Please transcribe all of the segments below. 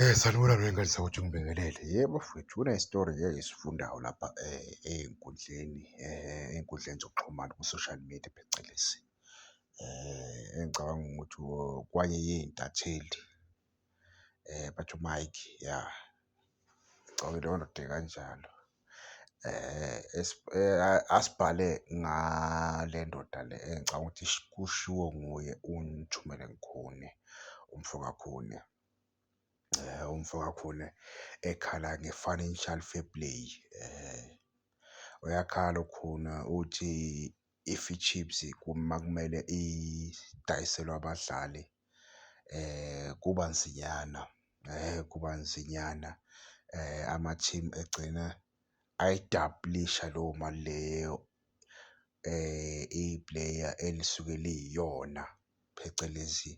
Eh, sanibona mina ngani ukuthi ngibingelele. Yebo mfwethu kunesitori ngeke ngisifundayo lapha eh, ey'nkundleni eh, ey'nkundleni zokuxhumana ku-social media phecelezi. Eh, engicabanga ukuthi kwanye yey'ntatheli eh, bathi uMike ya ngicabanga leyondoda ekanjalo. asibhale ngale ndoda le engicabanga ukuthi kushiwo nguye uNtshumeni Khune, umfo kaKhune. Umfo kaKhune ekhala nge-financial fair play. Uyakhala uKhune uthi if iChiefs uma kumele idayiselwe abadlali kuba nzinyana, kuba nzinyana ama-team egcina ayidabhulisha leyo mali leyo ipuleya elisuke liyiyona, phecelezi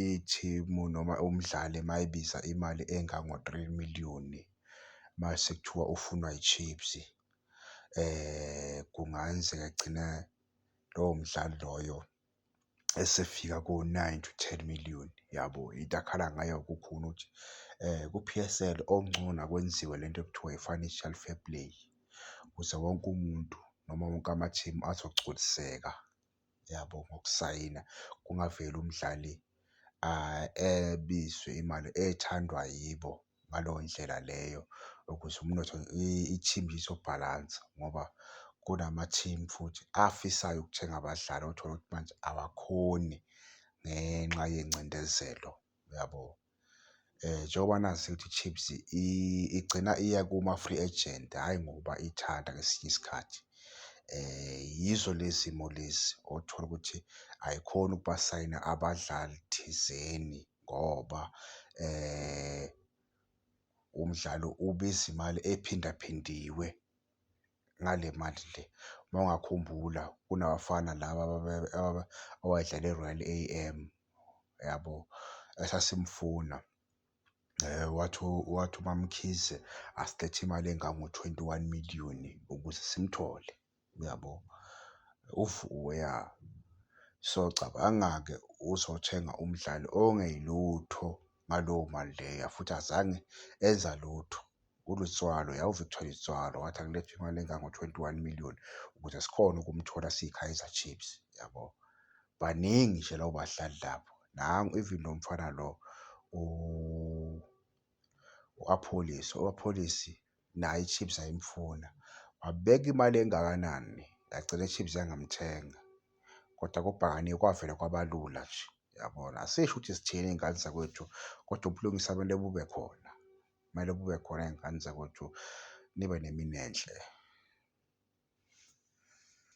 ithimu noma umdlali uma ebiza imali engango-three million uma sekuthiwa ufunwa yiChiefs. Kungayenzeka agcine lowo mdlali loyo esefika ko-nine to ten million yabo. Into akhala ngayo kukhona ukuthi ku-P_S_L okungcono akwenziwe le nto ekuthiwa i-financial fair play ukuze wonke umuntu noma wonke amathimu azogculiseka. yabo ngokusayina kungaveli umdlali ebizwe imali ethandwa yibo ngaleyo ndlela leyo ukuze umnotho i-team izobhalansa ngoba kunama-team futhi afisayo ukuthenga abadlali othola ukuthi manje awakhoni ngenxa yengcindezelo, uyabo? Njengoba nazi ukuthi i-Chiefs igcina iya kuma-free agent, hhayi ngoba ithanda ngesinye isikhathi. Yizo lezi zimo lezi othola ukuthi ayikhoni ukubasayina abadlali thizeni ngoba umdlalo ubiza imali ephindaphindiwe. ngale mali le. Uma ungakhumbula kunabafana laba owayedlala e-Royal A_M yabo esasimfuna wathi wathi uMaMkhize asilethe imali engango-twenty one million ukuze simthole uyabo. UVuyo ya, so cabanga-ke uzothenga umdlali ongelutho ngaleyo mali leya futhi azange enza lutho. nguLutswalo yawuVictor Lutswalo wathi akulethe imali engango-21 million ukuze sikhone ukumthola siyiKaizer Chiefs yabo. Baningi nje labo badlali lapho. Nangu even lo mfana lo u-Apholisi, u-Apholisi naye iChiefs ayimfuna. Wabeka imali engakanani yagcina iChiefs yangamthenga. Kodwa kubhakaniwe kwavele kwabalula nje yabona. Asisho ukuthi sithini ngey'ngane zakwethu kodwa ubulungiswa kumele bube khona. Kumele bube khona iy'ngane zakwethu nibe nemini enhle.